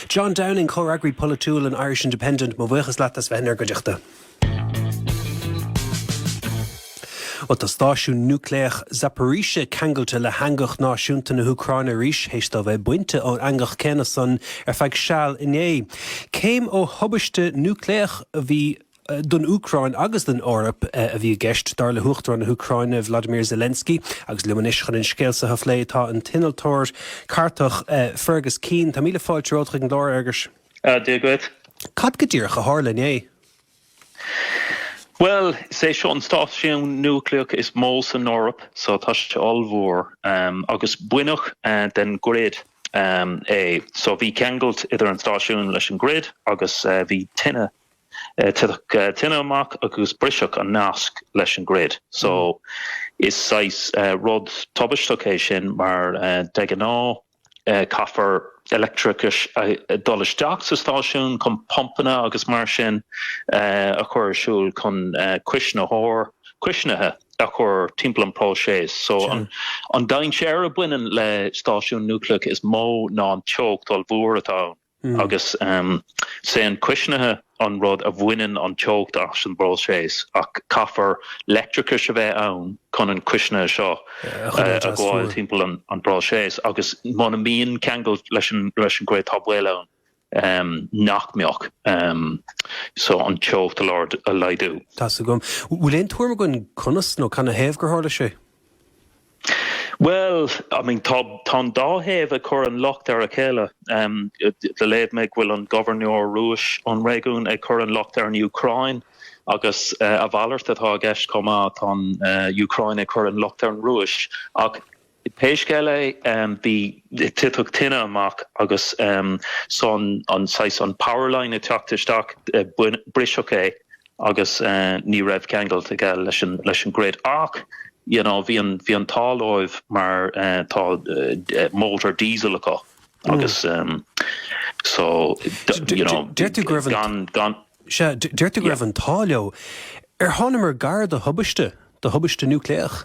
John Downing, Comhfhreagraí Polaitiúil an Irish Independent, mo bhuíochas leat as bheith in ar gcuideachta. Bhuel, tá stáisiún núicléach Zaporizhzhia ceangailte le heangach náisiúnta na hÚcráine arís, théis dó bheith bainte ón eangach céanna san ar feadh seal inné. Céim ó thubaiste núicléach a bhí don Úcráin agus don Eoraip a bhí i gceist, dar le hUachtarán na hÚcráine, Vladimir Zelensky. Agus liom anois chun an scéal so a phlé, tá an t-innealtóir cartach Fergus Keane. Tá míle fáilte romhat chuig an gclár, Fhergus. Dia dhuit. Cad go díreach a tharla inné? Bhuel, is é seo an stáisiún núicléach is mó san Eoraip, so tá sé ollmhór, agus baineadh den grid é. So bhí ceangailt idir an stáisiún leis an grid agus bhí tine Titfeadh tine amach agus briseadh an nasc leis an grid. So, is saghas rud tubaisteach é sin mar de ghnáth caithfear leictreachas dul isteach sa stáisiún chun pumpanna agus mar sin a chur ar siúl chun cuisnitheoir cuisnithe a chur timpeall an próiseas. So, an dainséar a bhaineann le stáisiúin núicléacha is mó ná an teocht ollmhór atá ann. Agus is é an cuisnithe an rud a bhaineann an teocht as an bpróiseas, ach caithfear leictreachas a bheith ann chun an cuisnithe seo a ghabháil timpeall an bpróiseas, agus muna mbíonn ceangal le leis an grid tá baol ann nach mbeadh, so an teocht a a laghdú. Tá's agam. Bhfuil aon tuairim againn conas nó cana thaobh gur tharla sé? Bhuel, I mean tá an dá thaobh ag cur an locht ar a chéile. Léigh mé go bhfuil an Gobharnóir Rúis ón réigiún ag cur an locht ar an Úcráin agus a mhalairt atá i gceist chomh maith, tá an Úcráin ag cur an locht ar an Rúis. Ach pé scéal é bhí, titfeadh tine amach agus son an saghas an power line ag teacht isteach briseadh é. agus ní raibh ceangailt aige leis an grid ach you know bhí bhí an t-ádh leo mar tá motor diesel acu agus so you know deirtear go raibh an gan sea deirtear go raibh an t-ádh leo ar tháinig muid gar do thubaiste do thubaiste núicléach.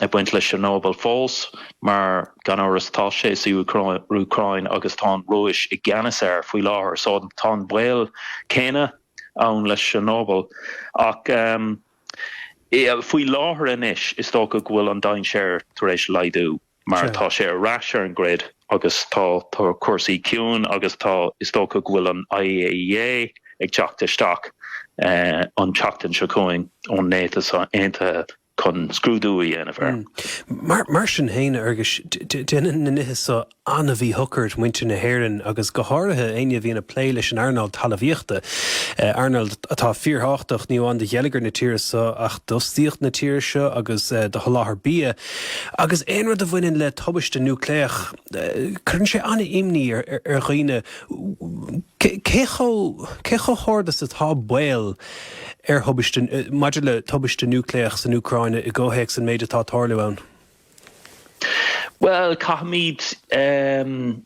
ag baint le Chernobyl fós, mar gan amhras tá sé sa Úcráin agus tá an Rúis i gceannas air faoi láthair, so tá an baol céanna ann le Chernobyl. Ach faoi láthair anois is dócha go bhfuil an dainséar tar éis laghdú mar tá sé ar ais ar an grid agus tá tá cúrsaí ciúin agus tá, is dócha go bhfuil an IAEA ag teacht isteach an tseachtain seo chugainn ón Náisiúin Aontaithe. chun scrúdú a dhéanamh ar. Mar sin féin, a Fherghis, déanann na nithe seo an-mhíshocair de mhuintir na hÉireann agus go háirithe éinne a bhíonn ag plé leis an earnáil talamhaíochta, earnáil atá fíorthábhachtach, ní amháin do gheilleagar na tíre seo ach d'fhostaíocht na tíre seo agus do sholáthar bia. Agus aon rud a bhaineann le tubaiste núicléach, cuireann sé an-imní ar dhaoine cé chomh hard is atá baol, ar thubaiste maidir le tubaiste núicléach san Úcráin i gcomhthéacs an méid atá ag tarlú ann? Bhuel, caithfimid é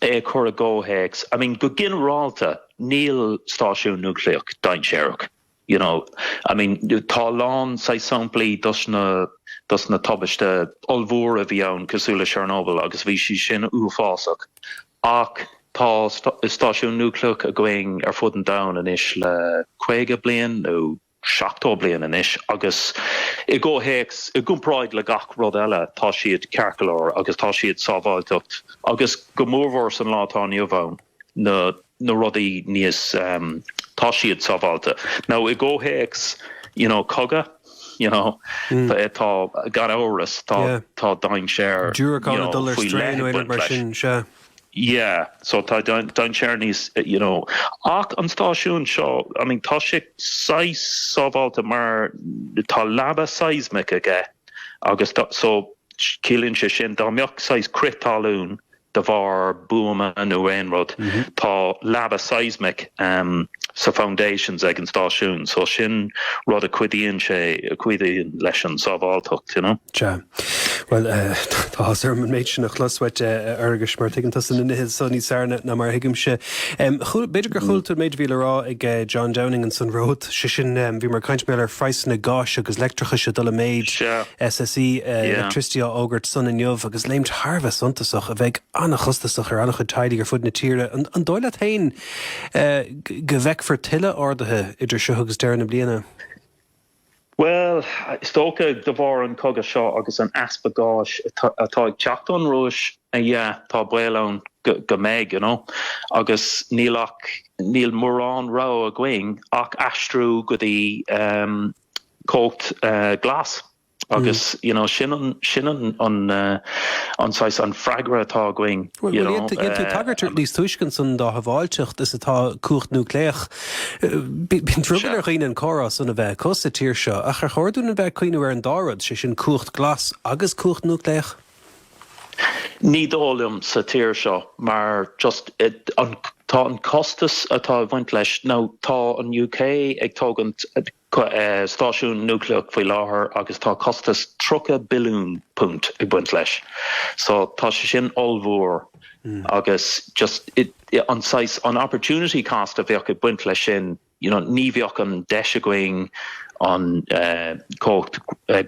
a chur i gcomhthéacs. I mean, go ginearálta, níl stáisiún núicléach dainséarach, you know. I mean, tá a lán saghas samplaí dos na, dos na tubaistí ollmhóra a bhí ann, cosúil le Chernobyl, agus bhí siad sin uafásach. Ach tá stáisiún núicléach againn ar fud an domhain anois le caoga bliain nó seachtó bliain anois agus i gcomhthéacs, i gcomparáid le gach rud eile, tá siad ceart go leor agus tá siad sábháilteacht agus go mórmhór san lá atá inniu ann na na rudaí níos tá siad sábháilte. Now i gcomhthéacs, you know, cogadh, you know, tá, gan amhras, tá, tá dainséar, you know, faoi leith ag baint leis. Yeah, so tá dainséar níos, you know, ach an stáisiún seo, I mean, tá sé saghas sábháilte mar tá leaba seismic aige agus tá, so, ciallaíonn sé sin dá mbeadh saghas crith talún de bharr buama nó aon rud. Tá leaba seismic sa foundations ag an stáisiún so sin rud a chuidíonn sé, a chuidíonn leis an sábháilteacht, you know. Sea. Bhuel, tá áthas orm an méid sin a chlos uait, a Fhergus, mar tuigeann tusa na nithe so níos fearr ná mar a thuigimse. Chuala, b'fhéidir gur chuala tú an méid a bhí le rá ag John Downing ansan romhat, sé sin bhíomar ag caint, mar gheall ar phraghsanna gáis agus leictreachais ag dul i méid. Sea. SSE Airtricity á fhógairt san inniu agus léimt thar a bheith suntasach, a bheidh an-chostasach ar an-chuid teaghlaigh ar fud na tíre. An dóigh leat féin go bhfeicfear tuilleadh arduithe idir seo agus deireadh na bliana? Bhuel, is dócha, de bharr an chogaidh seo agus an easpa gáis atá ag teacht ón Rúis, yeah, tá baol ann go mbeidh, you know. Agus níl ach, níl mórán rogha againn ach aistriú go dtí, cumhacht glas agus you know sin an sin an an an saghas an freagra atá againn you know. Bhuel dhein tú tagairt níos túisce ansan dá shábháilteacht is atá cumhacht núicléach. Bíonn drogall ar dhaoine an córás san a bheith acu sa tír seo ach ar chóir dúinn a bheith ag cuimhneamh ar an dá rud, sé sin cumhacht glas agus cumhacht núicléach? Ní dóigh liom sa tír seo mar just an tá an costas atá ag bhaint leis now tá an UK ag tógaint stáisiún núicléach faoi láthair agus tá costas 30 billiún punt ag baint leis so tá sé sin ollmhór agus just an saghas an opportunity cost a bheadh ag baint leis sin you know ní bheadh an deis againn an cumhacht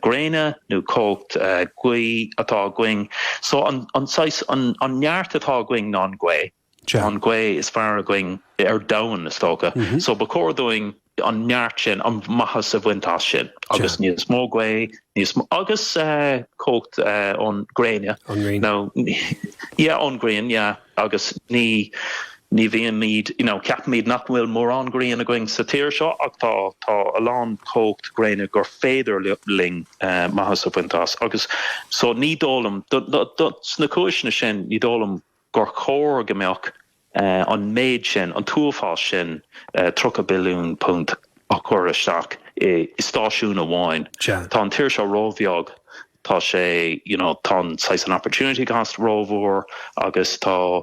gréine nó cumhacht gaoithe atá againn so an saghas an neart atá againn ná an gaoth, an gaoth is fearr againn ar domhan is dócha so ba chóir dúinn an neart sin, an maitheas a bhaint as sin agus níos mó gaoithe agus cumhacht ón gréine, nó yeah ón grian yeah. Agus ní, ní bhímid, you know, ceapaimid nach bhfuil mórán grian againn sa tír seo ach tá, tá a lán cumhacht gréine gur féidir linn maitheas a bhaint as agus so ní dóigh liom, sna cúiseanna sin, ní dóigh liom gur chóir go mbeadh an méid sin, an t-uafás sin £30 billiún a chur isteach i stáisiún amháin. Tá an tír seo róbheag Tá sé, you know, tá an saghas an opportunity cost rómhór agus tá,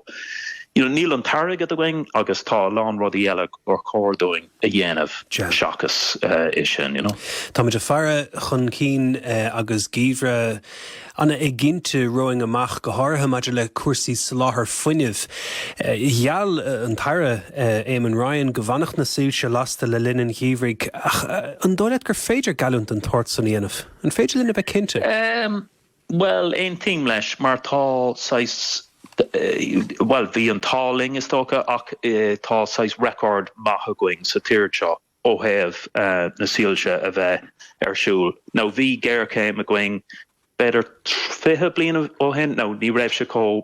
you know, níl an t-airgead againn agus tá a lán rudaí eile gur chóir dúinn a dhéanamh seachas é sin, you know. Táimid ag faire chun cinn agus geimhreadh an-éiginnte romhainn amach, go háirithe maidir le cúrsaí soláthair fuinnimh. Gheall an tAire Éamon Ryan go bhfanfadh na soilse lasta le linn an gheimhridh ach an dóigh leat gur féidir geallúint den tsórt san a dhéanamh? An féidir linn a bheith cinnte? Bhuel, aontaím leis mar tá saghas, bhuel, bhí an t-ádh linn is dócha ach tá saghas record maith againn sa tír seo ó thaobh na soilse a bheith ar siúl now bhí géarchéim againn b'fhéidir fiche bliain ó shin nó ní raibh sé chomh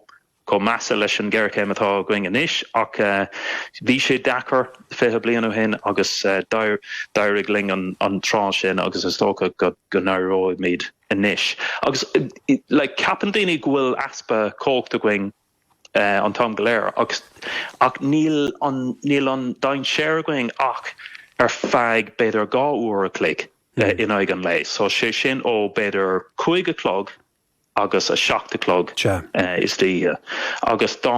chomh measa leis an ghéarchéim atá againn anois ach bhí sé deacair fiche bliain ó shin agus d'éirigh linn an tráth sin agus is dócha go n-éireoidh muid anois agus ceapann daoine go bhfuil easpa cumhacht againn an t-am go léir ach níl an dainséar againn ach ar feadh b'fhéidir dhá uair an chloig in aghaidh an lae, sé sin ó b'fhéidir cúig a chlog agus a seacht a chlog istoíche agus dá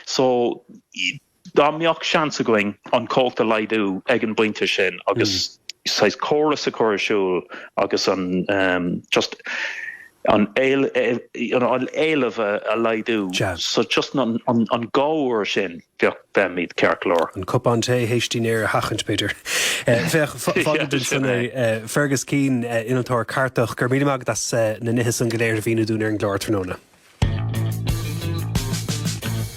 so dá mbeadh seans againn an cumhacht a laghdú ag an bpointe sin agus saghas córas a chur ar siúl agus an just an éileamh a laghdú so just an an an dhá uair sin bheadh beimid ceart go leor. An cupán tae théis dinnéar a sheachaint, b'fhéidir. Féach, fágfad ansan é. Fergus Keane, innealtóir cartach, go raibh míle maith agat as na nithe san go léir a mhíniú dúinn ar an gclár tráthnóna.